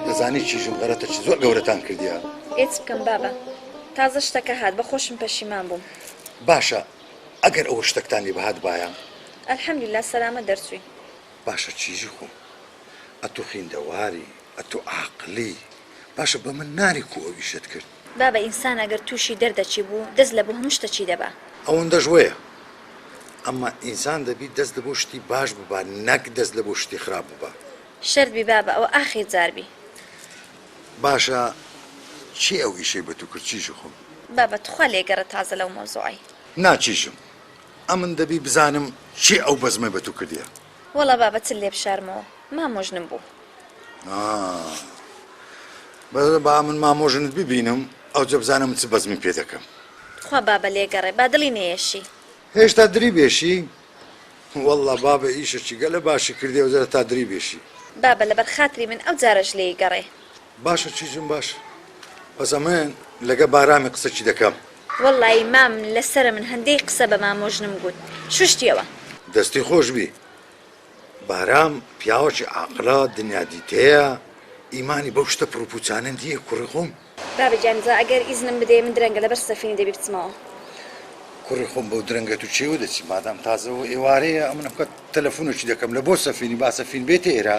دەزانی چیژم غەرەتە چ زۆر گەورەتان کردیا ئێچ بکەم بابە تازە شتەکە هات بە خۆشم پەشیمان بووم باشە ئەگەر ئەوە شتەکتان لێ بەهات بایە ئەلحەمدللا سەلامە دەرچووی باشە چیژی خۆم ئەتو خیندەواری ئەتو عاقلی باشە بە من ناری کو ئەو ئیشەت کرد بابە ئینسان ئەگەر توشی دەردەچی بوو دەست لە بۆ هەموو شتەچی دەبا. ئەوەندەش وەیە ئەمە ئینسان دەبی دەست لە بۆ شتی باش ببا نەک دەست لە بۆ شتی خراپ ببا. شەرت بی بابە ئەوە ئاخیر جار بی. باشە چی ئەو ئیشەی بە تو کرد چیژی خۆم. بابە تخوا لێ گەڕێ تازە لەو مەوزوعەی. نا چیژم ئەمن دەبی بزانم چی ئەو بەزمەی بە تو کردیە. وەڵا بابە چل لێ بشارمەوە مامۆ ژنم بوو. ئا بەس با من مامۆ ژنت ببینم ئەوجە بزانە من چ بەزمی پێ دەکەم. تخوا بابە لێ گەڕێ با دڵی نەیەشی. هێشتا دری بێشی؟ وەڵا بابە ئیشەکی گەلە باشی کردی ئەوجە هەتا دری بێشی. بابە لەبەر خاتری من ئەو جارەش لێی گەڕێ. باشە چی جون باشە بەس ئەمن لەگە بارامی قسەکی دەکەم. وەڵایی مام لەسەرە من هەندەی قسە بە مامۆ ژنم گووت شوشتیەوە. دەستی خۆش بی بارام پیاوەکی عاقلە دنیا دیتەیە ئیمانی بەو شتە پڕو پوچانە نیە کوڕی خۆم. بابە گیان جا ئەگەر ئیزنم بدەی من درەنگە لەبەر سەفینی دەبی بچمەوە. کوڕی خۆم بەو درەنگە تو کێوە دەچی مادام تازە ئێوارەیە ئەمن ئەمکات تەلەفونەکی دەکەم لە بۆ سەفینی با سەفین بێتە ئێرە.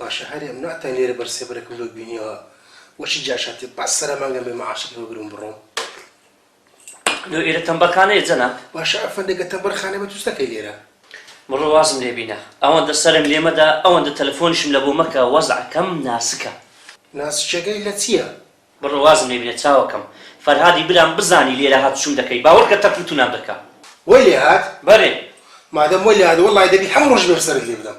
باشە هەرێ ئەم ناتان لێرە بەر سێبەرەکەم لۆ بینیەوە وە چی جاش هاتێ بەس سەرە مانگەم بێ مەعاشەکەی بە برم بڕۆم لۆ ئێرە تەمبەرخانەیە جەناب باشە ئەفەندەگە تەمبەرخانە بە توستەکەی لێرە. بڕۆ وازم لێ بینە ئەوەندە سەرم لێ مەدە ئەوەندە تەلەفۆنیشم لە بۆ مەکە وەزعەکەم ناسکە. ناسکەکەی لە چیە؟ بڕۆ وازم لێ بینە چاوەکەم. فەرهادی برام بزانی لێرە هات چوم دەکەی باوەڕ کە تەپوو تونام دەکا. وەی لێ هات؟ بەرێ. مادەم وەی لێ هات وەڵای دەبی هەموو ڕۆژ بێر سەرت لێ بدەم.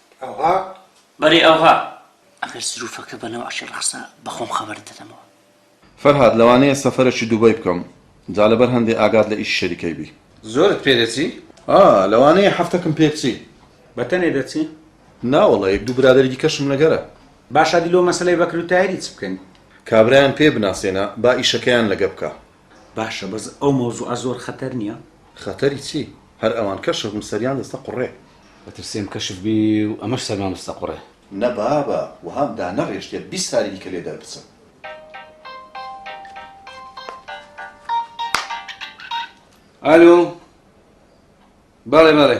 ئەوها؟ بەری ئەوها. ئەگەر سروفەکە بە نەوعەکی ڕاستە بە خۆم خەبەرت دەدەمەوە. فەرهاد، لەوانەیە سەفەرەکی دوبەی بکەم، جا لەبەر هەندێ ئاگات لە ئیشی شەریکەی بی. زۆرت پێ دەچی؟ ئا، لەوانەیە هەفتەکم پێ بچی. بە تەنێ دەچی؟ نا وەڵا، یەک دوو برادەری دیکەشم لەگەرە. باشە دی لۆ مەسەلەی بەکر و تاهیری چ بکەین؟ کابرایان پێ بناسێنە با ئیشەکەیان لەگە بکا. باشە بەس ئەو مەوزوعە زۆر خەتەر نیە؟ خەتەری چی هەر ئەوان کەشف بن سەریان دەستە قوڕێ. ئەترسێم کەشف بی و ئەمەش سەرمان بستە قوڕێ. نە بابە وەهام دانەڕێشتە بیست ساری دیکە لێ دەربچم. ئەلۆ بەڵێ بەڵێ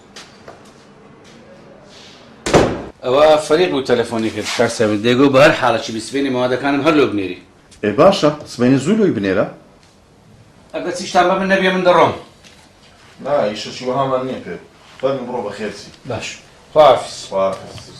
ئەوە فەریق بوو تەلەفۆنی کرد. کاک سەبت دێگۆ بەهەر حاڵەکی بی سبەینێ مەوادەکانم هەر لۆ بنێری. ئێ باشە سبەینێ زوو لۆی بنێرە. ئەگەر چیشتان بە من نەبیە من دەڕۆم. نا ئیشەکی وەهامان نیە پێت. فەرموو بڕۆ بەخێر چی. باش خواحافیز. خواحافیز.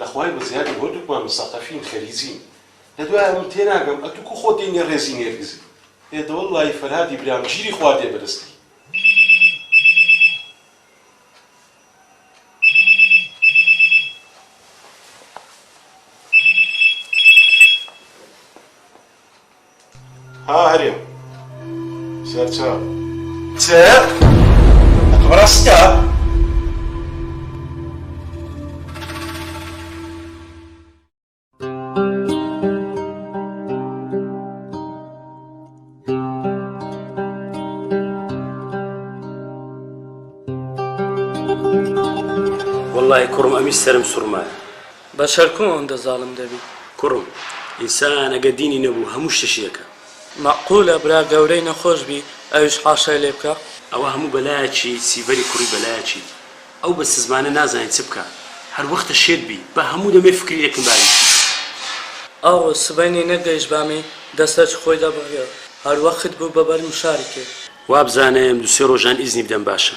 لە خوای بە زیادی هەردووکمان مسەقەفین خەلیجین لە دوای ئەوم تێناگەم ئەتوو کو خۆت دێنیە ڕێزی نێرگزی ئێ دە وەللەهی فەرهادی برام ژیری خوا دێ بەدەستی. ها هەرێم سەرچاو چ؟ ڕاستە؟ وەڵڵاهی کوڕم ئەمیش سەرم سوڕمایە. بەشەر کوو ئەوندە زاڵم دەبی. کوڕم ئینسان ئەگەر دینی نەبوو هەموو شتە شیرەکە. مەعقولە برا گەورەی نەخۆش بی ئەویش حاشای لێ بکا. ئەوە هەموو بەلایەکی سیڤەری کوڕی بەلایەکی ئەو بە سزمانە نازانی چ بکا هەر وەختە شێت بی با هەموو دەمێ فکری ئەکن با ئیشی. ئاو سبەینێ نەگەیشت بامی دەسەرچ خۆی دەبڕیەوە هەر وەخت بوو بەبەر مشاری کرد. وابزاناێم دوسێ ڕۆژان ئیزنی بدەم باشە.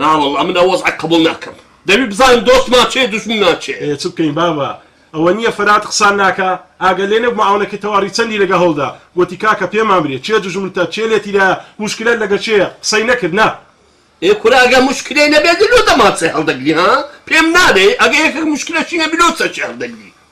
ناوەڵا من ئەو وەزعە قبوڵ ناکەم دەبی بزانم دۆستمان چێ دوژمنمان چێ. ئێ چ بکەین بابە ئەوە نییە فەرات قسان ناکا ئاگە لێ نەبوو معاونەکەی تەواڕی چەندی لەگە هەوڵدا گۆتی کاکە پێمان برێ چێ دوژمنتە چێ لێ تیرایە موشکلەت لەگە چێیە قسەی نەکرد نا ئێ کورە ئەگە موشکلەی نەبێ دلۆ دەمان چێ هەڵدەگری ها پێم نالێی ئەگە یەکێک موشکلەشی نەبی لۆ چە چێ هەڵدەگری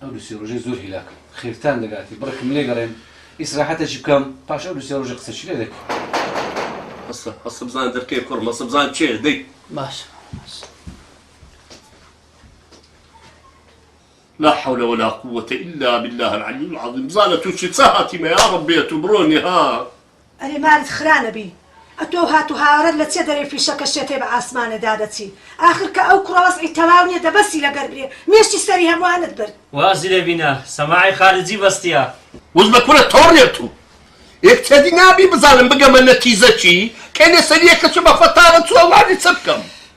ئەو دو سێ رۆژەی زۆر هیلاکم خێرتان دەگاتێ بڕێکم لێ گەڕێن ئیسراحەتەکی بکەم پاش ئەو دو سێ رۆژە قسەچی لێ دەکەین. هەستە هەستە بزانە دەرکەیە کوڕم هەستە بزانە چێیە دەی. باشە مامە باشە. لا حول ولا قووەتە الا باللە العلی العظیم بزانە توو چی چ هاتیمە یاڕەبی ئەتوو بڕۆنی ها. ئەرێ مارت خرا نەبی ئەتۆو هات و هاوارت لە چیە دەرێی فیشەکە شێتەی بە ئاسمانێ دادەچی ئاخر کە ئەو کوڕە وەزعی تەواو نیە دەبەسی لەگەر برێ مێشی سەری هەموانت برد. وازی لێ بینە سەماعی خارجی بەستیە. وس بە کورە تۆڕێ تو ئێ کچەدی نابی بزانم بگەمە نەتیزە چی کەی لەسەریەکە چ بە فەتاوە چوە وازی چ بکەم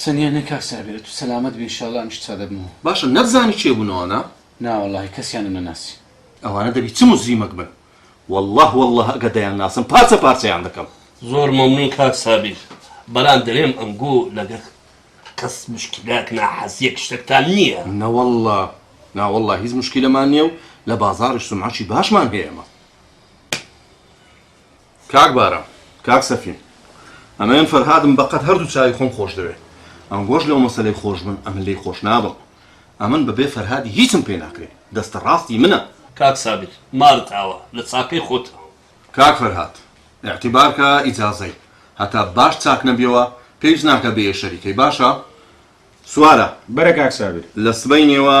چەنیە نە کاک سابیر ئەتو سەلامەت بی ان شاءاللە ئەمیش چا دەبمەوە. باشە نەتزانی کێ بوون ئەوانە؟ نا وەڵاهی کەسیانم نەناسی. ئەوانە دەبی چ موجریمەک بن واللە واللە ئەگەر دەیانناسم پارچە پارچەیان دەکەم. زۆر مەمنون کاک سابیر بەلام دەلێم ئەنگۆ لەگەر کەس مشکیلەک ناحەزیەک شتەکتان نیە. نەوەڵا ناوەڵا هیچ مشکیلەمان نیە و لە بازاڕیش سومعەکی باشمان هەیە ئەمە. کاک بارام کاک سەفین ئەمەێن فەرهادم بەقەد هەردوو چاوی خۆم خۆش دەوێ ئەنگۆش لەو مەسەلەی خۆش بن ئەمن لی خۆش نابم ئەمن بەبێ فەرهادی هیچم پێ ناکرێ دەستە ڕاستی منە. کاک سابیر مارت ئاوا لە چاکەی خۆتە. کاک فەرهاد ئیعتیبار کە ئیجازەی هەتا باش چاک نەبیەوە پێویست ناکا بێیە شەریکەی باشە سوارە. برا کاک سابیر. لە سبەینێوە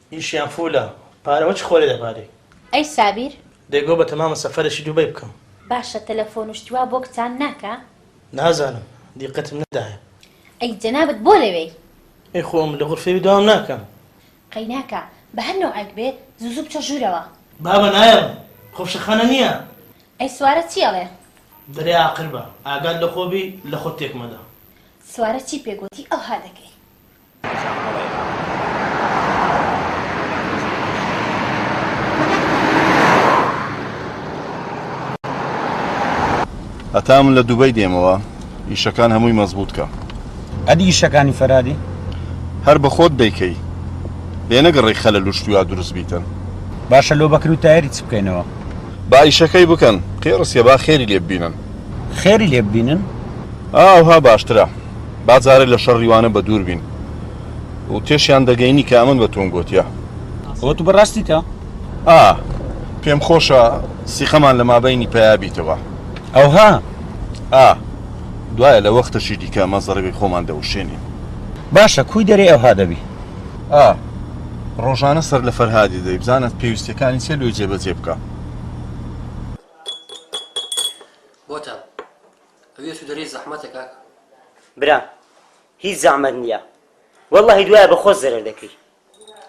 ئیشیان فولە پارە وە چ خۆێ دەبارێ. ئەی سابیر. دەی گۆ بەتەمامە سەفەرەشی دوبەی بکەم. باشە تەلەفۆن و شتی وا بۆ کچان ناکا؟ نازانم دیقەتم نەدایە. ئەی جەنابت بۆ لەوێی؟ ئەی خۆم لە غورفەێ دەوام ناکەم. قەی ناکا بە هەر نەوعێک بێ زوو زوو بچۆ ژوورەوە. بابە نایەڵم خۆ فشەخانە نیە. ئەی سوارە چی ئەڵێ؟ دەرێ ئاقربە ئاگات لەخۆ بی لەخۆت تێک مەدە. سوارە چی پێ گۆتی ئەوها دەکەی. هەتا من لە دوبەی دێمەوە ئیشەکان هەمووی مەزبوط کە ئەدی ئیشەکانی فەرادی هەر بە خۆت دەیکەی لێ نەگەڕی خەلە لوشتویا دروست بیتن باشە لۆ بەکر و تایری چ بکەینەوە با ئیشەکەی بکەن قێڕسیە با خێری لێ ببینن خێری لێ ببینن ئاوها باشترە با جارێ لە شەڕی وانە بە دوور بین و تێشیان دەگەینی کە ئەمن بە تۆم گۆتیە. ئەوە تو بە راستیتە؟ ئا، پێم خۆشە سیقەمان لە مابەینی پەیا بیتەوە. ئەوها؟ ئا، دوایە لە وەختەشی دیکە مە زەڕبی خۆمان دەوشێنین. باشە، کوی دەرێ ئەوها دەبی؟ ئا، رۆژانە سەر لە فەرهادی دەی، بزانە پێویستیەکانی چیە لۆی جێ بە جێ بکە. بۆتان. ئەوێ تو دەرێی زەحمەتە کاکە. برام هیچ زەعمەت نیە وەللەهی دوایە بە خۆت زەرەر دەکەی.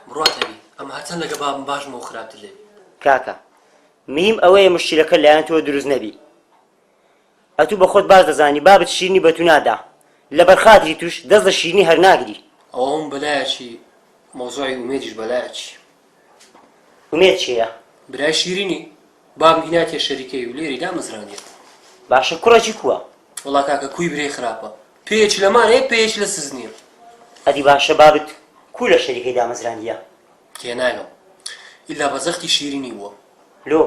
بڕوات هەبی ئەمە هەرچەند لەگە بابم باش بوو خراپتر لێ بوو. کاکە میم ئەوەیە مشکیلەکە لایەن تۆ دروست نەبی ئەتو بە خۆت باش دەزانی بابت شیرنی بە تو نادا لەبەر خاتری توش دەست لە شیرنی هەر ناگری. ئەوە هەموو بەلایەکی مەوزوعی ئومێدیش بەلایەکی. ئومێد کێیە؟ برای شیرینی بابم هیناتیە شەریکەی و لێری دامەزراندیە. باشە کوڕەکی کووە؟ وەڵا کاکە کووی برێ خراپە پێیەکی لە مار هەیە پێیەکی لە سز نیە. ئەدی باشە بابت کوو لە شەریکەی دامەزراندیە؟ تێناگەم ئیلا بە زەختی شیرینی بووە. لۆ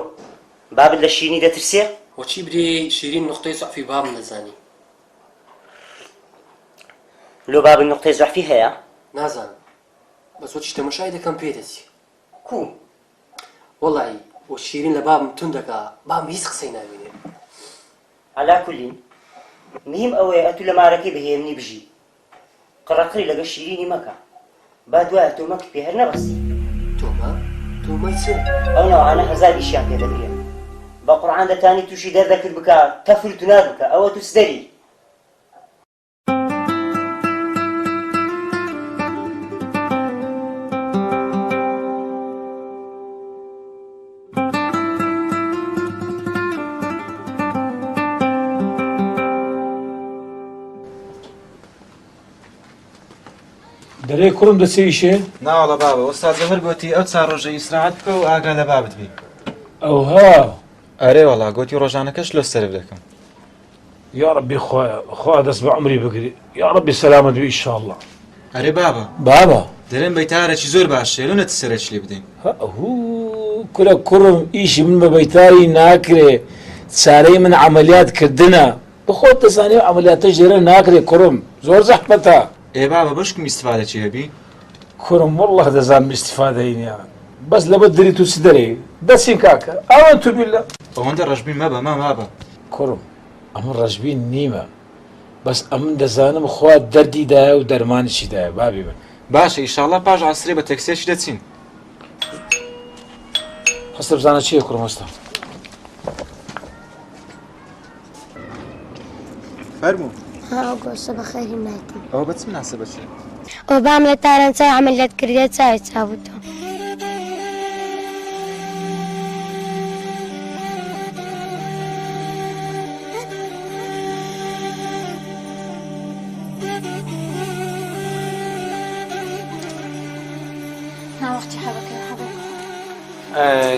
بابت لە شیرینی دەترسێ؟ وە چی برێ شیرین نوقتەی زوعفی بابم دەزانی. لۆ بابت نوقتەی زوعفی هەیە؟ نازانم بەس بۆچی تەمەشای دەکەم پێ دەچی کووم وەڵایی و شیرین لە بابم توند دەکا بابم هیچ قسەی ناوینێ. عەلا کولین مهم ئەوەیە ئەتوو لە مارەکەی بە هێمنی بژی قڕە قڕی لەگەڵ شیرینی مەکە با دوایە تۆمەکت پێ هەر نەبەستی. تۆمە؟ تۆمەی چ؟ ئەو نەوعانە هەزار ئیشیان پێ دەگرێ بە قورعان دەتانی تووشی دەردەکت بکا تەفر و تونار بکا ئەوە تووسدەری. دەرێ کوڕم دەچێیشێ ناوەڵە بابە وەستا زەهر گوتی ئەو چار ڕۆژە ئیسراحەت بکە و ئاگا لە بابت بی ئەوها ئەرێ وەڵا گوتی ڕۆژانەکەش لۆ سەرف دەکەم یاڕەبی خوایە خوا دەست بە عەمری بگری یاڕەبی سەلامەت بی ئیشاڵڵا. ئەرێ بابە بابە دەرێن بەیتارەکی زۆر باشە لۆ نەت سەرەکی لێ بدەین. هەئوو کورە کوڕم ئیشی من بە بەیتاری ناکرێ چارەی من عەمەلیات کردنە بەخۆت دەزانی ئەو عەمەلیاتەش لێرە ناکرێ کوڕم زۆر زەحمەتە. ئێ بابە بەشکم ئیستفادەکی هەبی. کورم واللە دەزانم ئیستیفادەی نیە بەس لەبەر دری تو چ دەرێی دەچین کاکە ئاوەتو بیللە. ئەوەندە ڕەشبین مەبە مام ئابە. کوڕم ئەمن ڕەشبین نیمە بەس ئەمن دەزانم خوا دەردی دایە و دەرمانیشی دایە بابی من. باشە ئیشاڵا پاش عەسرێ بە تەکسیەکی دەچین. هەستە بزانە چیە کوڕم هەستە. فەرموو گۆشە بەخێری ناکەم ئەوە بەچ مناسە بەچێ ئەو بام لە تاران چای عملیات کردێ چاوی چاوتۆ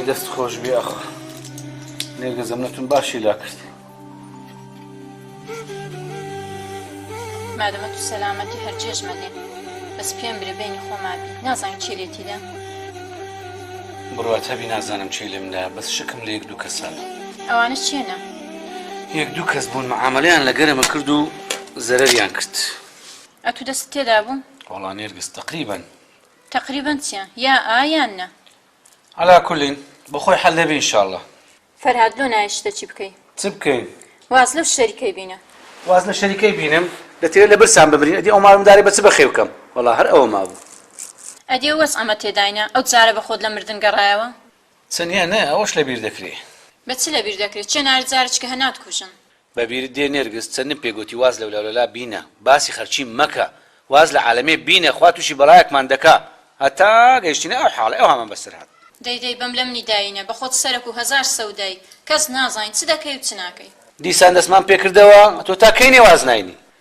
دەست خۆش بێ ئەخ. نێگە زەمنەتون باشی لا کرد مادەمە تو سەلامەتی هەرجێش مەدێ بەس پێم برێ بینی خۆمابی نازانین چی لێتیدا بڕات هەبی نازانم چی لێمدا بەس شکم لە یەک دوو کەسانە ئەوانە چێنە یەک دوو کەس بوون معاملیان لە گەرمە کرد و زەرەریان کرد ئەتو دەست تێدا بوو وڵا نێرگز تقریبن تقریبن چیە یا ئایان نە عەلا کول بۆ خۆی حەل دەبی ان شاءاللە. فەرهاد لۆ نایەی شتە چی بکەی. چ بکەین. واز لەو شەری کەی بینە. واز لە شەری کەی بینم. دەتەوێت لە برسان بمرین ئەدی ئەو مار مدارەی بە چ بەخێو کەم وەڵا هەر ئەوە مابوو. ئەدی ئەو وەز عەمە تێداینە. ئەو جارە بە خۆت لە مردن گەڕایەوە. چ نیە نە ئەوەش لە بیر دەکرێ. بە چ لە بیر دەکرێ چێ نارت جارە چ کە هە نات کوژن. بەبیرت دێ نێرگز چەندم پێ گۆتی واز لە ولالەلا بینە باسی خەرچی مەکە واز لە عالەمێ بینە خوا توشی بەڵایەکمان دەکا هەتا گەیشتینە ئەو حاڵەی ئەو هامان بەسەر هات. دەی دەی بەم لەم نیداینە بە خۆت سەرەک و هەزار سەودای کەس نازانی چ دەکەی و چ ناکەی. دیسان دەستمان پێکردەوە تۆ تا کەی نێواز ناینی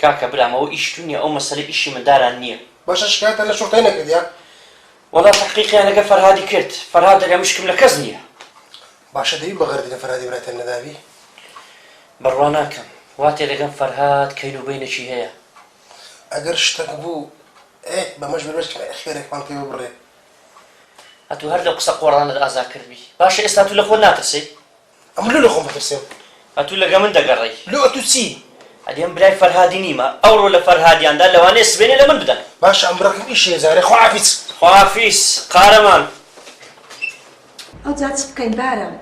کاکە برام ئەوە ئیشی تو نیە ئەو مەسەلە ئیشی منداران نیە. باشە شکایەتت لە شورتەی نەکردیە؟ وەڵا تەحقیقیان لەگە فەرهادی کرد فەرهاد دەلێ مشکم لە کەس نیە. باشە دەبی بەغەردی لە فەرهادی براتیان نەدابی؟ بڕوا ناکەم وا تێدەگەم فەرهاد کەین و بەینەکی هەیە. ئەگەر شتەک بوو ئێ بەمەش بەربەست کە خێرێکمان پێ ببڕێ. ئەتو هەر لەو قسە قۆڕانەت ئازا کردبی باشە ئێستا تو لە خۆت ناترسێی؟ ئەمن لۆ لەخۆم بترسێم. ئەتوو لەگە من دەگەڕێی. لۆ ئەتوو چی؟ ئەدی من برای فەرهادی نیمە، ئەوڕۆ لە فەرهادیاندا لەوانەیە سبەینێ لە من بدەن. باشە ئەم بڕەکەم ئیشی هەیە جارێ خواحافیز. خواحافیز قارەمان. ئەوجا چ بکەین بارام؟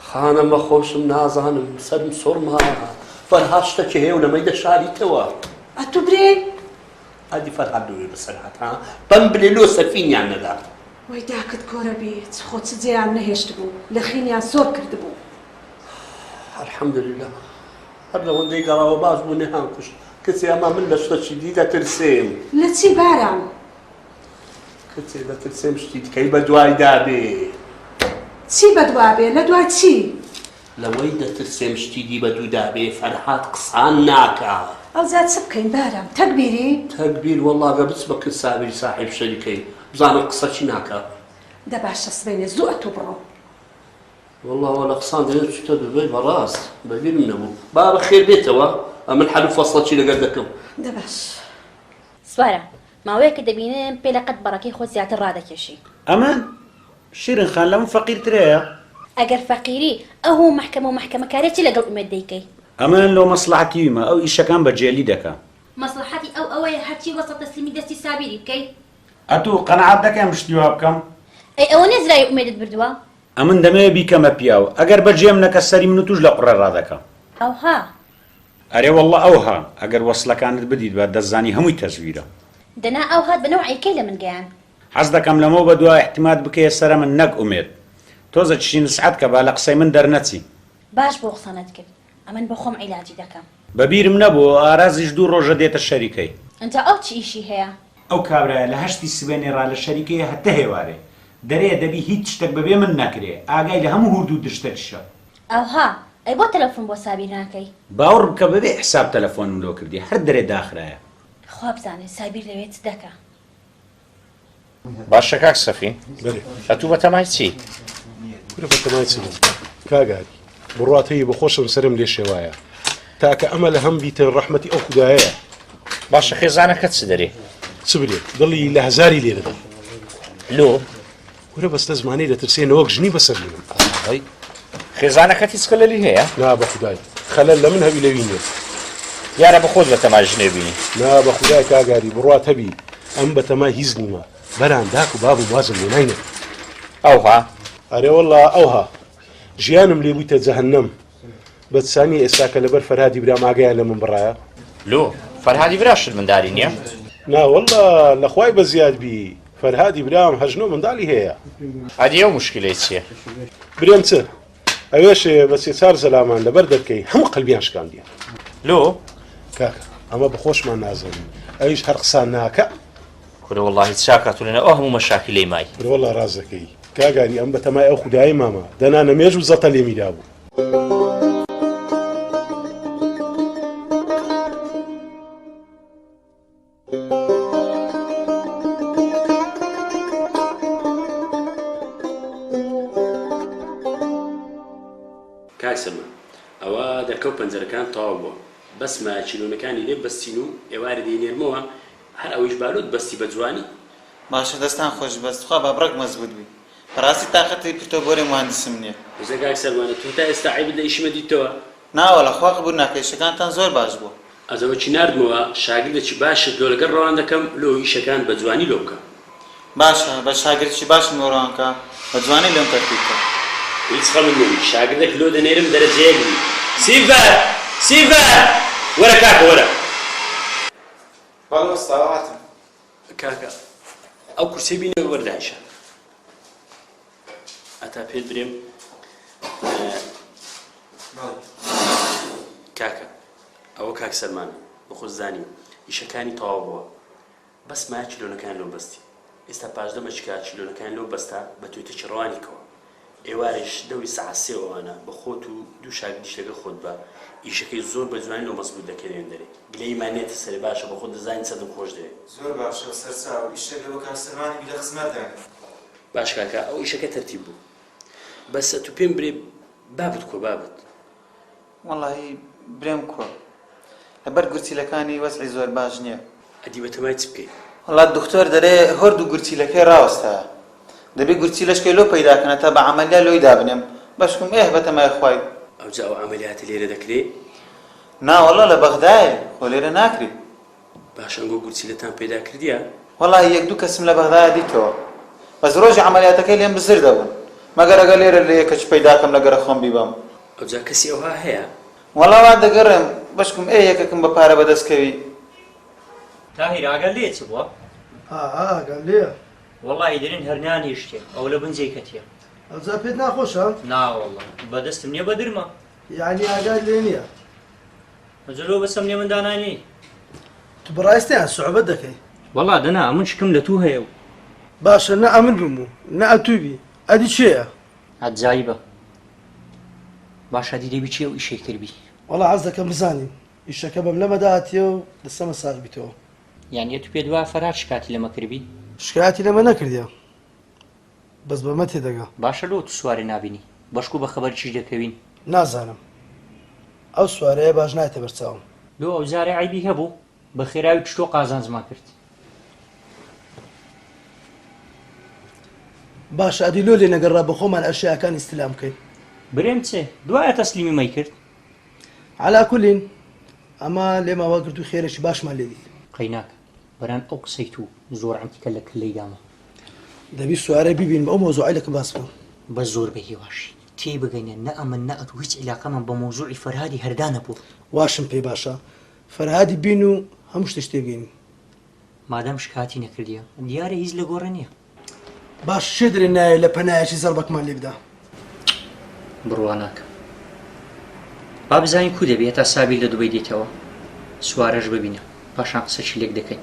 خانمە خۆشم نازانم سەرم سوڕماوە. فەرهاد شتەکی هەیە و نەمەی دەشاریتەوە. ئەتوو برێ؟ ئەدی فەرهاد ببێ بە سەرهات ها بەم بلێ لۆ سەفینیان نەدات. وەی داکت کۆرە بی چ خۆ چ جێیان نەهێشتبوو لەخینیان سۆر کردبوو. الحمدللە هەر لەوەندەی گەڕاوە باش بوو نەیان کوشت کچێ ئەمە من لە شتەکی دی دەترسێم. لە چی بارام. کچێ دەترسێم شتی تکەی بەدوایدا بێ. چی بەدوا بێ لە دوای چی. لەوەی دەترسێم شتی دی بە دوودا بێ فەرهاد قسان ناکا. ئەوجا چ بکەین بارام تەگبیری؟ تەگبیر وەڵا گە بچ بە کن سابیری ساحیب شەریکەی بزانم قسە چی ناکا. دە باشە سبەینێ زوو ئەتوو بڕۆ. وەڵا وە لە قسان دەیەت چوتە دوبەی بەڕاست بەبیرم نەبوو با بەخێر بێتەوە ئەمن حەل و فەسڵەکی لەگەر دەکەم. دە باش. سوارە ماوەیەکە دەبینم پێ لە قەد بەڕەکەی خۆت زیاتر ڕادەکێشی. ئەمان؟ شیرین خان لەمن فەقیر تر هەیە؟ ئەگەر فەقیری ئەو هەموو مەحکەمە و مەحکەمەکاریە چی لەگەڵ ئومێد دەیکەی؟ ئەمن لۆ مەسڵەحەتی ویمە ئەو ئیشەکان بە جێلی دەکا. مەسڵەحەتی ئەو ئەوەیە هەرچی وەستە تەسلیمی دەستی سابیری بکەی. ئەتوو قەناعەت دەکەم شتی وا بکەم؟ ئەی ئەوە نیە زراری ئومێدت بردوە؟ ئەمن دەمەوێ بیکەمە پیاو ئەگەر بە جێم نەکە سەری من و توش لە قوڕێ ڕادەکا. ئەوها. ئەرێ وەڵڵە ئەوها ئەگەر وەسڵەکانت بدیت با دەتزانی هەمووی تەزویرە. دەنا ئەوهات بە نەوعی کەی لەمن گەیاند؟ حەز دەکەم لەمەو بەدوا ئیعتیماد بکەیە سەرە من نەک ئومێد تۆزە چشی نسعەت کە با لە قسەی من دەرنەچی. باش بوو قسەنت کرد ئەمن بۆ خۆم عیلاجی دەکەم. بە بیرم نەبوو ئارازیش دوو ڕۆژە دێتە شەریکەی. ئنجا ئەو چ ئیشی هەیە. ئەو کابرایە لە هەشتی سبەینێ ڕا لە شەریکەیە هەتە هێوارێ دەرێیە دەبی هیچ شتەک بەبێ من نەکرێ ئاگای لە هەموو هورد و درشتەکیشە. ئەوها ئەی بۆ تەلەفون بۆ سابیر ناکەی. باوڕ بکە بەبێ حساب تەلەفۆنم لۆ کردیە هەر دەرێ داخرایە. خوا بزانێ سابیر لەوێ چ دەکا. باشە کاک سەفی ئەتوو بە تەمای چی کورە بە تەمای چی کاگاری بڕاتەیە بە خۆشم سرم لێ شێوایە تاکە ئەمە لە هەم بیتن ڕەحمەتی ئەو خدایە باشە خێزانەکە چ دەرێ چ برێ دڵی لە هەزاری لێ دەدەم لۆ کورە بەستە زمانی دەترسێ نەوەک ژنی بەسەر منم ئەی خێزانەکەت هیچ خەلەلی هەیە نا بە خودای خەلەل لە من هەوی لەوی نیە دیارە بە خۆت بەتەما ژنێ بینی نا بە خودای کاگاری بڕوات هەبی ئەم بەتەما هیچ نیمە بەران داک و باب و بازم لێ ناینێت ئەوها ئەرێ واللە ئەوها ژیانم لێ بوویتە جەهەنەم بەدسانی ئێستا کە لەبەر فەرهادی برام ئاگایان لە من بڕایە لۆ فەرهادی برا شت منداری نییە ناوەڵە لەخوای بە زیاد بی فەرهادی برام هەژنۆ منداڵی هەیە ئەدی ئەو مشکلەی چییە برێم چ ئەوێش بە سێ چار زەلامان لەبەر دەرکەی هەموو قەلبیان شکاندیە لۆ کاکە ئەمە بەخۆشمان نازەنی ئەویش هەر قسان ناکە کورە وەڵاهی چاکە تۆ لەناو ئەو هەموو مەشاکلەی مای. برۆ وەڵا ڕاست دەکەی کاگاری ئەم بەتەمای ئەو خودایەی مامە دەنا نەمێژ و زەتە لێمی دابوو. کاک سەلمان ئەوە دەرکەو پەنجەرەکان تەواو بووە بەس مایە چیلۆنەکانی لێ بەستین و ئێوارێ دەینێرمەوە هەر ئەوەیش بالوت بەستی بە جوانی. باشە دەستان خۆش بەس تخوا با بڕەک مەزبوت بی بەڕاستی تاقەتی پرتەو بۆرێ موهەندسم نیە. بژە کاک سەلمانە تۆ تا ئێستا عەیبت لە ئیشمە دیتتەوە؟ نا وەڵا خوا قبول ناکا ئیشەکانتان زۆر باش بوە. ئەزەوەکی ناردمەوە شاگردەکی باشت لۆ لەگەڵ ڕەوان دەکەم لۆ ئیشەکان بە جوانی لۆ بکە. باشە بەس شاگردەکی باشم لۆ ڕەوان کە بە جوانی لۆم تەرتیب بکە. هیچ خەمت نەبی شاگردەک لۆ دەنێرم دەرەجە یەک بی. سیڤەر! سیڤەر! وەرە کاکە وەرە. بەڵێ وەستا هاتم. کاکە ئەو کورسەی بینەوە بەر دانیشە ئەتا پێت برێم کاکە ئەوە کاک سەلمان بەخۆ زانی ئیشەکانی تەواو بووە بەس مایە چلۆنەکان لۆ بەستی ئێستا پاشدەمە چکار چلۆنەکان لۆ بەستە بە توێتە چڕوانیکەوە ئێوارەیش دەوری سەعات سێ وانە بە خۆت و دوو شاگردیش لەگەڵ خۆت بە، ئیشەکەی زۆر بە جوانی لۆ مەزبووت دەکەی لێ دەرێ. گلەیی مان نیە تەسەلێ باشە بە خۆت دەزانی چەندم خۆش دەوێ. زۆر باشە سەرچاو، ئیشەک لەوە کاک سەلمانی بی لە خزمەت دانێ. باش کاکە ئەو ئیشەکە تەرتیب بوو. بەس ئەتوو پێم برێ بابت کۆ بابت. وەڵاهی برێم کوە لەبەر گورچیلەکانی وەزعی زۆر باش نیە. ئەدی بەتەمای چ بکەین. وەڵا دکتۆر دەرێ هۆرد و گورچیلەکەی ڕاوەستایە دەبی گورچیلەشکەی لۆ پەیدا کەنە تا بە عەمەلیا لۆی دابنێم بەشکم ئێه بەتەمای خوای. ئەوجا ئەو عەمەلیاتە لێرە دەکرێ؟ ناوەڵا لە بەغدایە خۆ لێرە ناکرێ باش ئەنگۆ گورچیلەتان پەیدا کردیە؟ وەڵا یەک دوو کەسم لە بەغدایە دیتەوە بەس ڕۆژی عەمەلیاتەکەی لێم بزر دەبوون مەگەر ئەگەر لێرە لە یەکەچ پەیدا کەم لە گەرە خۆم بیبەم. ئەوجا کەسی ئەوها هەیە؟ وەڵا وا دەگەڕێم بەشکم ئێ یەکەکم بە پارە بەدەست کەوی. تاهیر ئاگات لێیە چ بووە؟ ئا ئا ئاگام لێیە. وەڵاهی دەرێن هەر نانیشتێ ئەوە لە بن جێی کەتیە. ئەوجا پێت ناخۆشە؟ ناوەڵا بە دەستم نیە بە درمە. یەعنی ئاگات لێ نیە؟ جلو بسم لێ من دانانی تو بەڕاستیان سوعبەت دەکەی وەڵا دەنا ئەمن شکم لە تو هەیە و باشە نە ئەمن بم و نە ئەتوی بی ئەدی چێە عەجایبە باش ئەدی دەبی چێ و ئیشەی کردبی وەڵا عەز دەکەم بزانیم ئیشەکە بەم لەمەدا هاتیە و دەسەمە ساغ بیتەوە یانی ئەتو پێت وایە فەرهاد شکاتی لەمە کردبی؟ شکایەتی لەمە نەکردیە. بەس بەمە تێدەگا. باشە لۆ تو سوارێ نابینی. بەشکو بە خەبەر چیش دەکەوین. نازانم ئەو سوارەیە باش نایەتە بەر چاوم. لۆ ئەو جارە عەیبی هەبوو؟ بە خێراوی پشتۆ قازانجمان کرد. باشە ئەدی لۆ لێ نەگەڕا بە خۆمان ئەشیاکان ئیستلام کەین. برێم چێ دوایە تەسلیمی مەی کرد. عەلا کولین ئەمە لێمان وا گرتوو خێرێکی باشمان لێ دیت. قەیناکە برام ئەو قسەی توو زۆر عەنتیکە لە کللەی دامە. دەبی سوارە بیبین بە ئەو مەوزوعەی لە کە باس بکەم. بەس زۆر بە هیواشی. تێی بگەنە نە ئەمن نە ئەتوو هیچ عیلاقەمان بە مەوزوعی فەرهادی هەردان نەبووە. واشم پێ باشە فەرهادی بین و هەموو شتیش تێ بگەین. مادام شکاتی نەکردیە دیارە هیچ لە گۆڕێ نیە. باش چێ دەرێ نایە لە پەنایەکی زەڕبەکمان لێ بدا. بڕوا ناکەم با بزانین کو دەبێ هەتا سابیر لە دوبەی دێتەوە سوارەش ببینە پاشان قسەشی لێک دەکەین.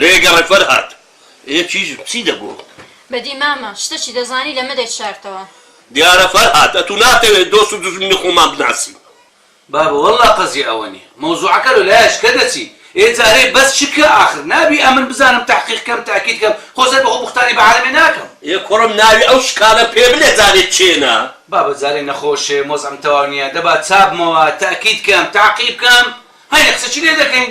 لەیەگە ڕێفەر هات ئێ چیژ چی دەگۆ. بەدی مامە شتەچی دەزانی لەمە دەی شارتەوە. دیارە فەرهاد ئەتو ناتەوێ دۆست و دوژمنی خۆمان بناسین. بابە وەللە قەزی ئەوەنی مەوزوعەکە لۆ لایە شکە دەچی ئێ جارێ بەس چ کە ئاخر نابی ئەمن بزانم تەحقیق کەم تەئکید کەم خۆ سەر بەخۆ بوختانی بە عالەمێ ناکەم. ئێ کوڕم ناوی ئەو شکالە پێ بلێ جارێ چێنە. بابە جارێ نەخۆشێم وەزعم تەواو نیە دەبا چابمەوە تەئکید کەم تەعقیب کەم هەینێ قسەچی لێ دەکەین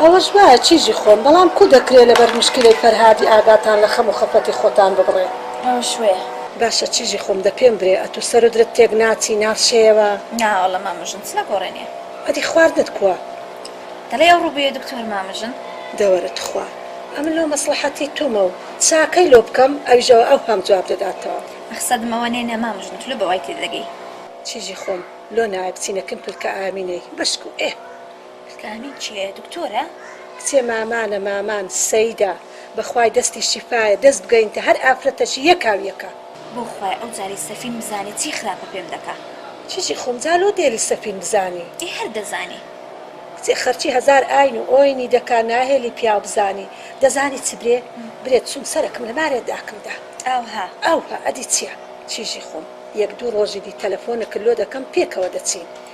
ئەوەش وایە چیژی خۆن بەڵام کو دەکرێ لەبەر مشکیلەی فەرهادی ئاگاتان لە خەم و خەفەتی خۆتان ببڕێ ئەوەش وەیە. باشە چیژی خۆم دە پێم برێ ئەتو سەر و درت تێک ناچی ناچێیەوە. نا واللە مامە ژن چ لە گۆڕێنێ. ئەدی خواردنت کوە؟ دەڵێی ئەوڕۆ بۆیە دکتۆر مامە ژن. دەوەرە تخوا ئەمن لۆ مەسڵەحەتی تومە و چاکەی لۆ بکەم ئەویش ئەوە ئەوهام جواب دەداتەوە. مەخسەدم ئەوە نێ نە مامە ژن تلۆ بە وای تێ دەگەی. چیژی خۆم لۆ نایە بچینە کن پلکە ئامینەی بەشکو ئێ کلکامین چیە دکتۆرە؟ کچێ مامانە مامان سەیدە. بەخوای دەستی شیفایە دەست بگەینتە هەر ئافرەتەکی یەکا و یەکە. بۆ خوای ئەو جارەی سەفین بزانی چی خراپە پێم دەکا. چیچی خۆم جا لۆ دێلی سەفین بزانی. ئێ هەر دەزانی. کچێ خەرکی هەزار ئاین و ئۆینی دەکا ناهێلی پیاو بزانی دەزانی چ برێ برێت چوم سەرەکم لە مارێ داکم دا. ئاوها. ئاوها ئەدی چیە چیژی خۆم یەک دوو ڕۆژی دی تەلەفۆنەکت لۆ دەکەم پێکەوە دەچین.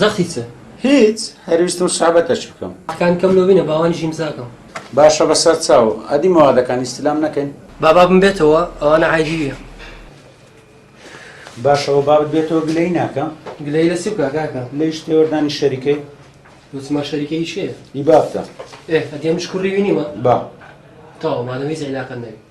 زەختی چ؟ هیچ، هەر ویستم سابە تەچ بکەم. قەکانی کەم لۆ بینە باوانیش ئیمزا کەم. باشە بە سەر چاو. ئەدی مەوادەکان ئیستیلام نەکەین؟ با بابم بێتەوە ئەوانە عەیبی یە. باشە وە بابت بێتەوە گلەیی ناکەم. گلەیی لە چی بکا کاکە؟ لەیش تێوەردانی شەریکەی. وتمان شەریکەی کێ؟ ی بابتە. ئێ ئەدی ئەمنیش کوڕی وی نیمە؟ با. تەواو مادەم هیچ عیلاقەت نەبی.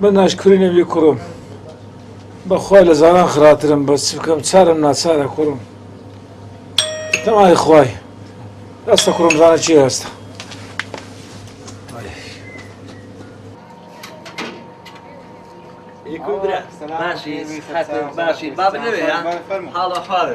من ناشکری نەبی کوڕم بەخوای لە زاران خراترم بەس چ بکەم چارم ناچارە کوڕم تەمای خوای ئەستە کوڕم زانە چی هەستە باشی باشی بابنەوێ حاڵە خارە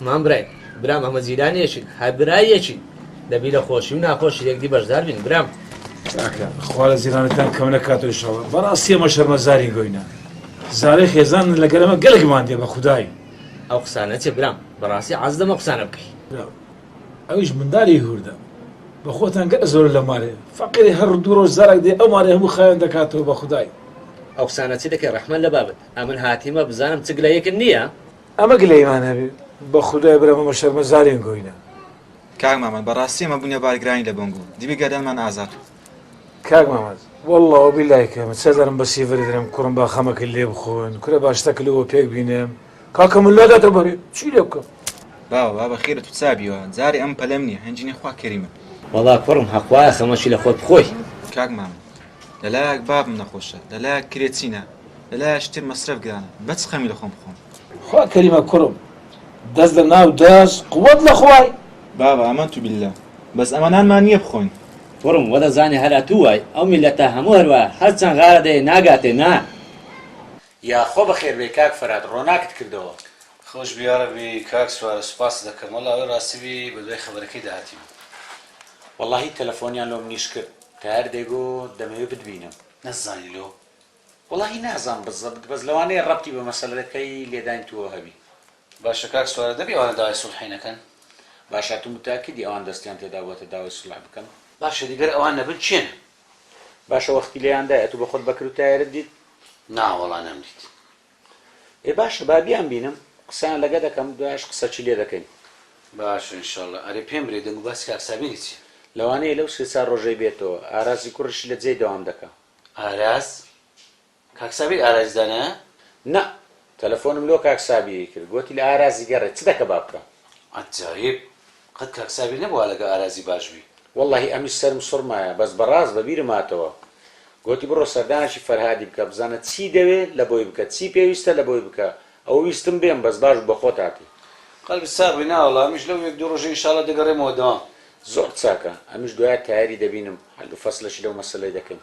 مام برای برام ئەمە جیران یەکین هەر برا یەکین دەبی لە خۆشی و ناخۆش یەکدی بەشدار بین برام خوا لە زیرانەکان کەم لە کاتۆ شەوە بەڕاستی ئەمە شەرمەزاری گۆینە زارەی خێزان لە گەرەمە گەلێکمان دێ بە خودایی ئەو قسانە چێ برام بەڕاستی عز دەمە قسانە بکەی ئەویش مندالی هوردە. بەخۆتان گەر زۆرە لە مارێ فەقیرێ هەر دوو ڕۆژ جارەک دێ ئەو مارەی هەموو خاوێن دەکاتەوە بە خودای. ئەو قسانە چی دەکەی ڕەحمەت لە بابت ئەمن هاتیمە بزانم چ گلەیەکت نیە. ئەمە گلەیمان هەبێ بەخودای برام ئەمە شەرمە زارین گۆینە. کاک مامەد بەڕاستی ئەمە بونە بارگرانی لە بۆنگ و دیوی گەردەنمان ئازاد کرد. کاک مامەد واللە وبیلای کە من چەجارم بە سیڤەری درم کوڕم با خەمەکەی لێ بخۆن کورە با شتەکلوە پێک بینم. کاکە من لاداتە بەرێ چی لێ بکەم. باوە با بەخیرت وچابیەوە جارێ ئەم پەلەم نیە هەنجینی خوا کەریمە. وەڵا کوڕم هەخوایە خەمەکی لە خۆت بخۆی. کاک مامە لەلایەک بابم نەخۆشە لەلایەک کرێ چینە لەلایەش تر مەسرەف گرانە بەچ خەمی لە خۆم بخۆم. خوا کەریمە کوڕم دەست لە ناو دەست قوت لە خوای. بابە ئەمەنتو باللە بەس ئەمە نانمان نیە بخۆین. کوڕم وەدەزانێ هەر ئەتوو وای ئەو میلەتە هەموو هەروایە هەرچەند غارە دەیێ ناگاتێ نان. یا خۆ بەخێر بێی کاک فەراد ڕۆناکت کردەوە. خۆش بی یارەبی کاک سوارە سوپاست دەکەم واللە ئەوەی ڕاستی بی بەدوای خەبەرەکەی دا هاتین. وەڵاهی تەلەفۆنیان لۆ منیش کرد تایەر دەیگۆ دەمەوێ بتبینم. نەتزانی لۆ؟ وەڵاهی نازام بزەبت بەس لەوانەیە ڕەبتی بە مەسەلەکەی لێدانی تووەوە هەبی. باشە کاک سوارە دەبی ئەوانە داوای سوڵحی نەکەن؟ باشە ئەتو متاکدی ئەوان دەستیان تێدابوەتە داوای سوڵح بکەن؟ باشە دی گەر ئەوان نەبن کێن؟ باشە وەختی لێیان دای ئەتو بەخۆت بەکر و تایەرت دیت؟ نا وەڵا نەمدیت. ئێ باشە با بیان بینم قسەیان لەگە دەکەم دوایش قسەچی لێ دەکەین. باشە ان شاء اللە. ئەرێ پێم برێ دەنگو باسی کاک سابیری چیە؟ لەوانەیە لەو سێ چار ڕۆژەی بێتەوە. ئاراسی کوڕیشی لە جێی دەوام دەکا. ئاراس کاک سابیر ئاراج دانایە؟ نا تەلەفۆنم لۆ کاک سابیری کرد گۆتی لە ئارازی گەڕێ چ دەکە با بکەم. عەجایب قەت کاک سابیر نەبوە لەگە ئارازی باش بی. وەڵاهی ئەمنیش سەرم سوڕمایە بەس بەڕاست بەبیرم هاتەوە گۆتی بڕۆ سەردانێکی فەرهادی بکە بزانە چی دەوێ لەبۆی بکە چی پێویستە لەبۆی بکە ئەوە ویستم بێم بەس باش بوو بەخۆت هاتی. قەلبت ساغ بی ناوەڵا ئەمنیش لەو یەک دوو ڕۆژە ئینشاڵا دەگەڕێمەوە دەوام. زۆر چاکە ئەمنیش دوایە تایەری دەبینم حەل و فەسلەشی لەو مەسەلەی دەکەین.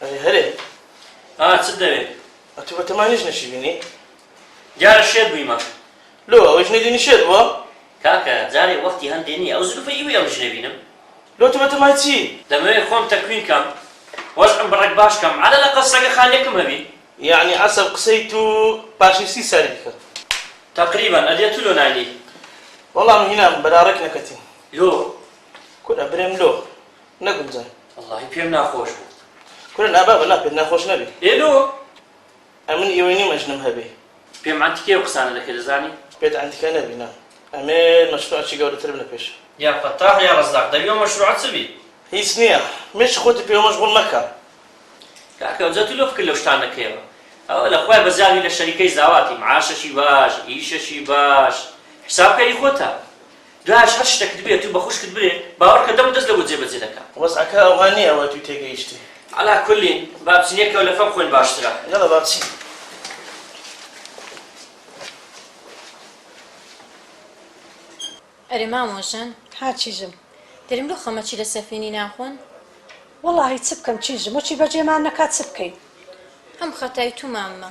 ئەرێ هەرێ ئا چت دەوێ؟ ئەتوو بە تەمانیش نەشی بینی؟ دیارە شێت بوویمە. لۆ ئەوەیش نەیدینی شێت بووە؟ کاکە جارێ وەختی هەندێ نییە ئەو زلوفەی ئیوی ئەویش نەبینم. لۆ تۆ بە تەمای چی؟ دەمەوێ خۆم تەکوین کەم وەزعم بە ڕێک باش کەم عەلە لەقەڵ سەگە خانیەکم هەبی. یەعنی عەسەل قسەی توو پاشی سی سالی دەکەن. تەقریبەن ئەدێ تو لۆ ناینی. وەڵا من هینام بەرا ڕێک نەکەتین. لۆ؟ کورە برێم لۆ؟ نەگونجا. وەڵاهی پێم ناخۆش بوو. کورە نا بابە نا پێت ناخۆش نەبی. ئێ لۆ؟ ئەمن ئیوەی نیم ئەژنم هەبی. پێم ئەنتیکەی ئەو قسانە دەکەی دەزانی. پێت ئەنتیکە نەبی نا ئەمێ مەشروعە چی گەورەتر بنە پێشە. یا فەتاح یا ڕەزاق دەبی ئەو مەشروعە چ بی. هیچ نیە مێشک خۆتی پێوە مەشغوڵ مەکە. کاکە ئەوجا تو لۆ فکر لەو شتان دەکەیەوە ئەوە لە خوای بەزاوی لە شەریکەی زاواتی معاشەکی باش ئیشەکی باش حیساب کەری خۆتە. جاش هەر شتەکت بێ تو بە خوشکت برێ باوەرکە دەم و دەست لەبۆ جێ بەجێ دەکا. وەزعەکە ئەوها نیە ئەوە توی تێگەیشتی. عەلا کولین با بچین یەک کەولەفە بخۆین باشترە. یەڵا با بچین. ئەرێ مامۆ ژن. ها چیژم. دەریم لۆ خەمە چی لە سەفینی ناخۆن. وەڵاهی چ بکەم چیژم وەچی بەجێمان نەکا چ بکەین. هەم خەتای تو ماممە.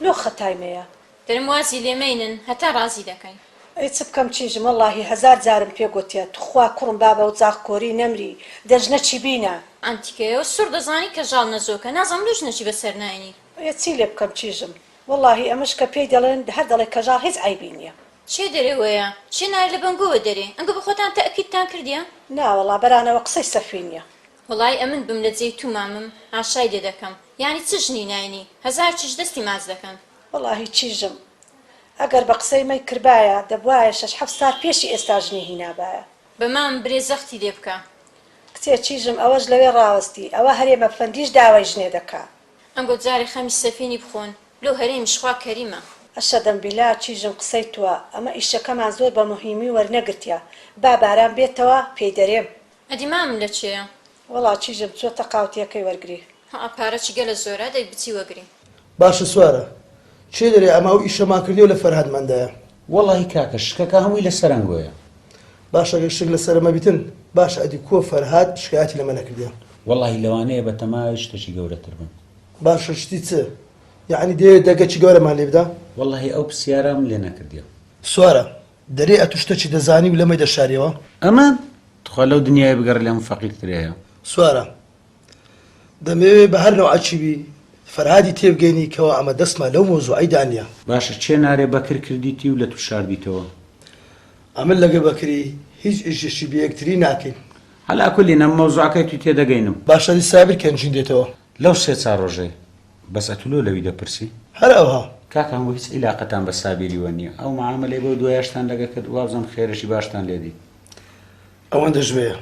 لۆ خەتای مەیە. درم وازی لێ مەینن هەتا ڕازی دەکەین. ئەی چ بکەم چیژم وەڵاهی هەزار جارم پێ گۆتیە توخوا کوڕم با بەو زاخ کۆری نەمری دە ژنە چی بینە. ئەم تیکەیە و سوڕ دەزانی کە ژاڵ نەزۆکە نازانم لۆ ژنە چی بەسەر ناینی. ئەیە چی لێ بکەم چیژم وەڵاهی ئەمەش کە پێی دەڵێن هەر دەڵێ کە ژاڵ هیچ عەیبی نیە. چێ دەرێ وەیە چێ نارێ لە بەنگۆوە دەرێ ئەنگۆ بەخۆتان تەئکیدتان کردیە. ناوەڵا بەرانەوە قسەی سەفی نیە. وەڵای ئەمن بم لە جێی تو مامم ئاشای لێ دەکەم یانی چ ژنی ناینی هەزار چیژ دەستی ماچ دەکەن. وەڵا هی چیژم ئەگەر بە قسەی مەی کربایە دەبوایە شەش حەفت سار پێشی ئێستا ژنی هینابایە. بە مام برێ زەختی لێ بکە. کچێ چیژم ئەوەش لەوێ ڕاوەستی ئەوە هەرێمە فەندیش داوای ژنێ دەکا. ئەنگۆ جارێ خەمی سەفینی بخۆن لۆ هەرێمیش خوا کەریمە. ئەشەدەم بیلا چیژم قسەی توە ئەمە ئیشەکەمان زۆر بە موهیمی وەرنەگرتیە با باران بێتەوە پێی دەرێم. ئەدی مامم لە چێە؟ وەڵا چیژە بچۆ تەقاو تێکەی وەرگری. هەع پارە چی گەلە زۆرە دەی بچی وەگری. باشە سوارە چێ دەرێ ئەمە ئەو ئیشەمان کردیەو لە فەرهاد مەندایە. وەڵاهی کاکە شکەکە هەمووی لە سەرەنگۆیە. باشە گەر شک لە سەرە مەبیتن باشە ئەدی کۆ فەرهاد شکایەتی لەمە نەکردیە. وەڵاهی لەوانەیە بە تەمای شتەکی گەورەتر بن. باشە شتی چ یەعنی دەیەوێ دەگەکی گەورەمان لێ بدا. وەڵاهی ئەو پسیارەم لێ نەکردیە. سوارە دەرێ ئەتو شتەچی دەزانی و لەمەی دەشاریەوە. ئەمە تخوا لەو دنیایە بگەڕێ لەمە فەقیر ترەیە. سوارە دەمەوێ بە هەر نەوعەکی بی فەرهادی تێبگەینی کەوا ئەمە دەسما لەو مەوزوعەی دا نیە. باشە چێ نارێ بەکر کردیتی و لەتو شاردیتەوە. ئەمن لەگە بەکری هیچ ئیشێکی بەیەکتری ناکەین. عەلا کولین ئەم مەوزوعەکەی توی تێدەگەینم. باشە دی سابیر کەنجین دێتەوە. لەو سێ چار ڕۆژەی بەس ئەتو لۆ لەوی دەپرسی؟ هەر ئەوها. کاکە هەموو هیچ ئیلاقەتان بە سابیری وە نیە ئەو معامەلەی بەو دوایاشتان لەگە کرد وابزانم خێرێکی باشتان لێ دیت. ئەوەندە ژوێیە.